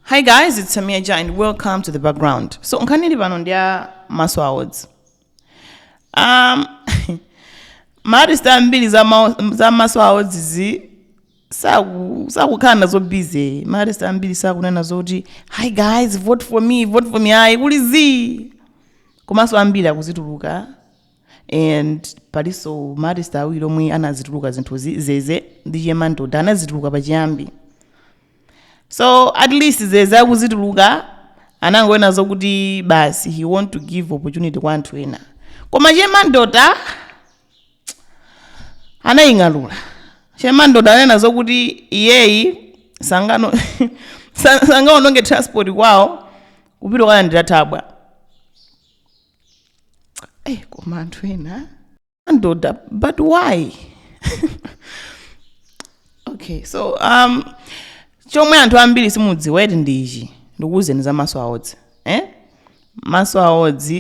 Hi guys, it's Samia Ja and welcome to the background. So nkhani ili pano ndi ya Maso Awards. Um, maartist ambiri za, ma, za Maso Awards zi saku- sakukhala nazo busy. Maartist ambiri sakunena zoti hi guys, vote for me, vote for me, ayi kuli zi. Komanso ambiri akuzituluka and palinso maartist awiri omwe anazituluka zinthu zi- zeze ndi Che Mandota anazituluka pachiyambi. so at least zeze akuzituluka anangonena zokuti basi he want to give opportunity kwa anthu ena koma Che Mandota anaying'alula Che Mandota ananena zokuti iyeyo sangano sa- sangaononge transport kwawo kupita kukalandira thabwa Eh, koma anthu ena Mandota but why okay so um chomwe anthu ambiri simudziwa eti ndi ichi ndikuwuzeni za Maso Awards eh? Maso Awards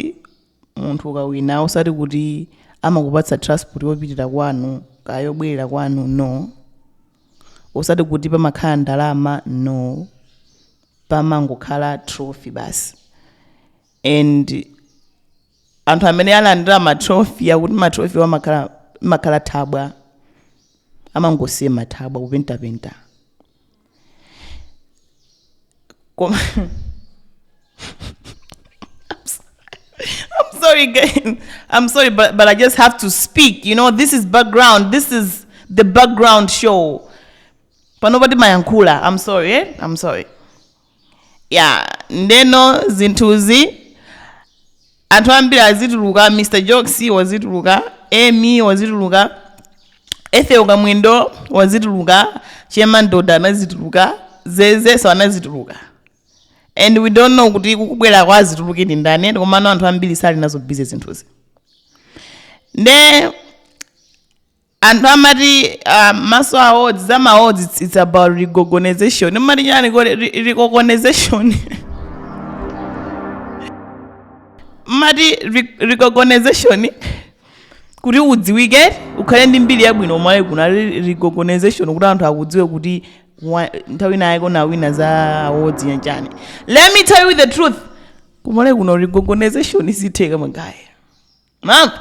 munthu ukawina usati kuti amakupatsa transport yopitira kwanu kaya yobwerera kwanu no usati kuti pamakhala ndalama no pamangokhala trophy basi and anthu amene alandira matrophy akuti matrophy amakhala amakhala thabwa amangosiya mathabwa kupentapenta koma I'm sorry, guys. I'm sorry, but, but I just have to speak. You know, this is background. This is the background show. Panobody mayankula. I'm sorry, eh? I'm sorry. ya ndeno zinthuzi anthu ambiri azituluka mr jokes wazituluka emy wazituluka ethel kamwendo wazituluka Che Mandota anazituluka zezeso anazituluka and we don't know kuti kukubweraku azituluke ndi ndani and komano anthu ambiri sali nazo busy zinthuzi nde Anthu amati uh, Maso Awards za ma awards it's, it's about recognization mmati chani ko recognization mmati recognization kuti udziwike ukhale ndi mbiri yabwino ku Malawi kuno recognization kuti anthu akudziwe kuti nthawi inayi kona wina za awards yanjani let me tell you the truth ku Malawi kuno recognization sitheka magaya Mark,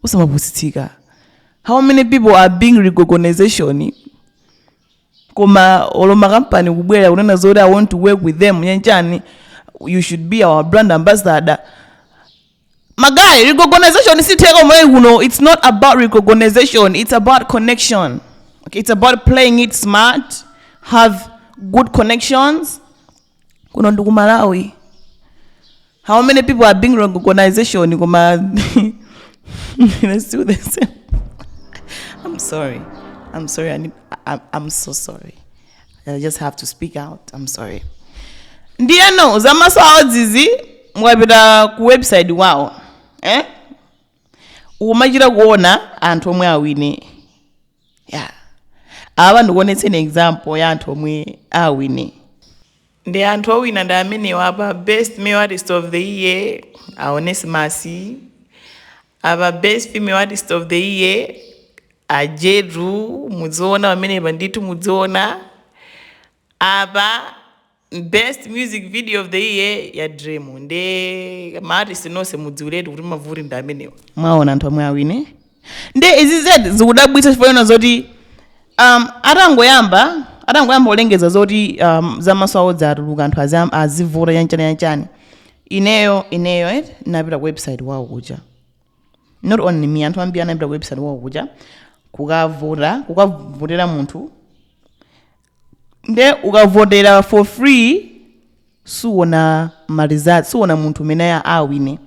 usamapusitsika how many people are being recognition koma olo makampani kubwera kunena zoti i want to work with them nyanchani you should be our brand ambassador magayi recognition sitheka omweyi kuno it's not about recognition it's about connection okay, it's about playing it smart have good connections kuno ndi ku malawi how many people are being recognization koma they're still the same i'm sorry i'm sorry I need, I, i'm so sorry i just have to speak out i'm sorry ndiyeno za Maso Awards-zi mukapita ku website wawo eh? ukumachita kuona anthu omwe awine yeah. apa ndikuonetseni example ya anthu omwe awine ndi anthu owina ndi amenewa apa best male artist of the year a Onesimus apa best female artist of the year a Jetu mudziona pamenepa ndithu mudziona Apa best music video of the year ya Dream nde ma artist nonse mudziwiretu kuti mavuti ndi amenewa. Mwaona anthu omwe awine. Nde izi zedi zikudabwitsa chifukwa choona zoti um, atangoyamba atangoyamba kulengeza zoti um, za Maso Awards zatuluka anthu azam- azivota yanchani yanchani ineyo ineyo eh, napita ku website wawo kuja not only me anthu ambiri anapita ku website wawo kuja kukavota kukavotera munthu nde ukavotera for free suona ma results suona munthu umene a- awine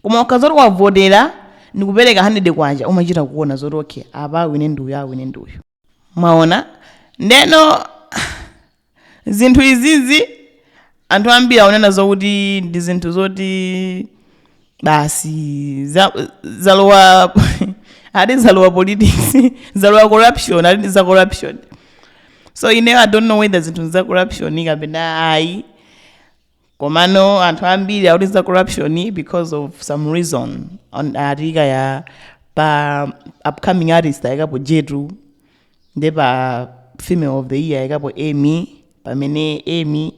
koma ukadzati wavotera ndikupereka 100 kwacha umachita kuona zoti okay apa awine ndi uyu awine ndi uyu mwaona ndeno zinthu izizi anthu ambiri akunena zokuti ndi zinthu zoti basi za- zalowa ati zalowa politics zalowa corruption ati ndi za corruption so ineyo i don't know whether zinthu za corruption kapena ayi komano anthu ambiri akuti za corruption because of some reason On- atika ya pa upcoming artist ayikapo jetu nde pa female of the year ayikapo amy pamene amy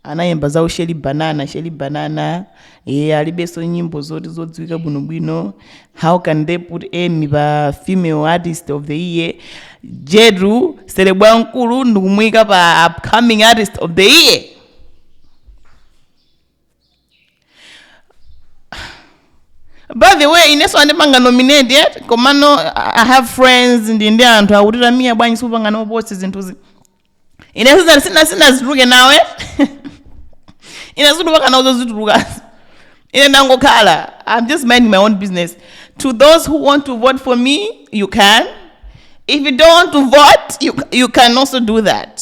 anayimba za Sherry banana Sherry banana e, alibenso nyimbo zoti zodziwika bwinobwino how can they put amy pa female artist of the year jetu celeb wamkulu ndikumuyika pa upcoming artist of the year by the way inenso andipanga nominate yet komano i I have friends ndi ndi anthu akuti Tamia bwanji sukupanga nawo post zinthuzi inenso zina- sina sinazitulukenawe ine zituluka nawo zozitulukazi ine ndangokhala i'm just minding my own business to those who want to vote for me you can if you don't want to vote you, you can also do that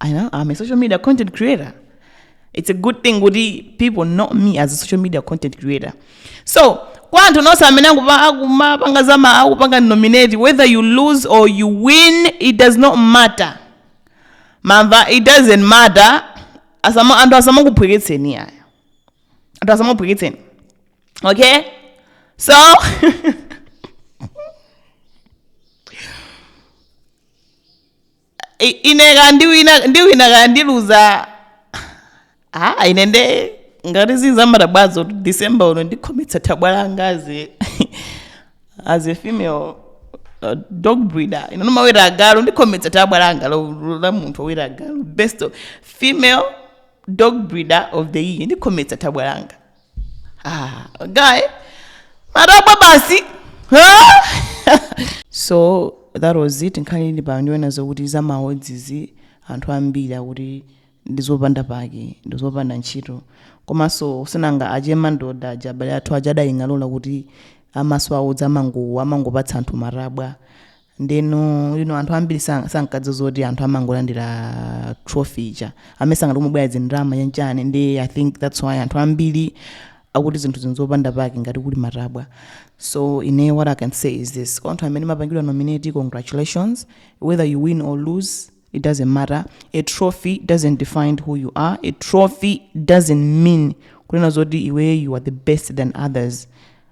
I know, I'm a social media content creator. It's a good thing kuti people know me as a social media content creator. So, kwa anthu nonse amene akupa- akumapanga zama akupanga nominate whether you lose or you win it does not matter. Mwamva it doesn't matter. Asama anthu asamakuphweketseni aya. Anthu asamakuphweketseni. Okay? So I- ine kaya ndiwina ndiwina kaya ndiluza ah ine nde ngati sizamathabwazo december uno ndikhometsa thabwa langa as a, as a female uh, dog breeder ine ndimaweta agalu ndikhometsa thabwa langa lo- lo- la munthu woweta agalu best of- female dog breeder of the year ndikhometsa thabwa langa Ah, guy, matabwa basi. so that was it nkhani ili apa ndi yonena zokuti za ma awards izi anthu ambiri akuti ndizopanda pake ndizopanda ntchito komanso sinanga a che mandota aja abale athu aja adaying'alula kuti a maso awards amango- amangopatsa anthu matabwa ndeno anthu ambiri sa- sankadziwa zoti anthu amangolandira trophy ija amayesa ngati kumabwera zindalama ya chani nde i think that's why anthu ambiri akuti zinthuzi n'zopanda pake ngati kuli matabwa so ine what i can say is this kwa anthu amene mwapangidwa nominate congratulations whether you win or lose it doesn't matter a trophy doesn't define who you are a trophy doesn't mean kunena zoti iwe you are the best than others